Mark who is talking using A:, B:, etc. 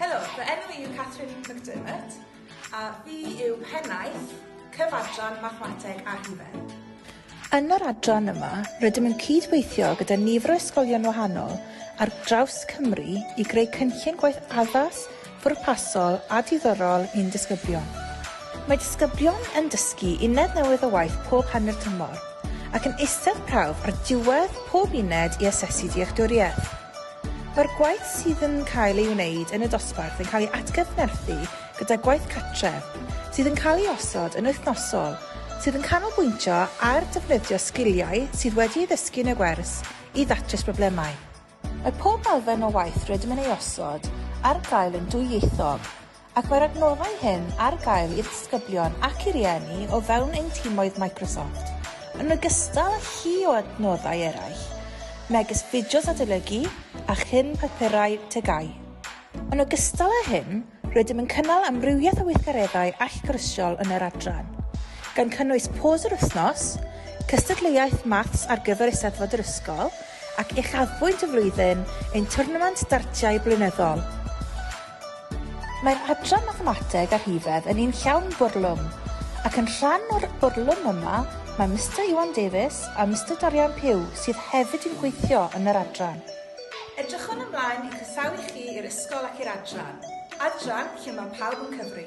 A: Helo, fy enw i yw Catherine McDermott a fi yw Pennaeth Cyfadran Mathemateg a Rhifedd. Yn yr
B: adran yma, rydym yn cyd-weithio gyda nifer o ysgolion wahanol ar draws Cymru i greu cynllun gwaith addas, pwrpasol a diddorol i'n disgyblion. Mae disgyblion yn dysgu uned newydd o waith pob hanner tymor, ac yn eistedd prawf ar diwedd pob uned i asesu dealltwriaeth. Mae'r gwaith sydd yn cael ei wneud yn y dosbarth yn cael ei atgyfnerthu gyda gwaith cartref, sydd yn cael ei osod yn wythnosol, sydd yn canolbwyntio ar defnyddio sgiliau sydd wedi ei ddysgu yn y gwers i ddatrys problemau. Mae pob elfen o waith rydym yn ei osod ar gael yn dwyieithog, ac mae'r adnoddau hyn ar gael i'r disgyblion ac i rieni o fewn ein timoedd Microsoft, yn ogystal â llu o adnoddau eraill, megis fideos adolygu a chyn papurau TGAU. Yn ogystal â hyn, Rydym yn cynnal amrywiaeth o weithgareddau allgyrsiol yn yr adran, gan cynnwys pôs yr wythnos, cystadleuaeth maths ar gyfer Eisteddfod yr ysgol ac uchafbwynt y flwyddyn ein twrnament dartiau blynyddol. Mae'r adran Mathemateg a Rhifedd yn un llawn bwrlwm, ac yn rhan o'r bwrlwm yma mae Mister Iwan Davies a Mister Dorian Pugh sydd hefyd yn gweithio yn yr adran. Edrychwn
A: ymlaen i chroesawu chi i'r ysgol ac i'r adran. Adran lle mae pawb yn cyfri.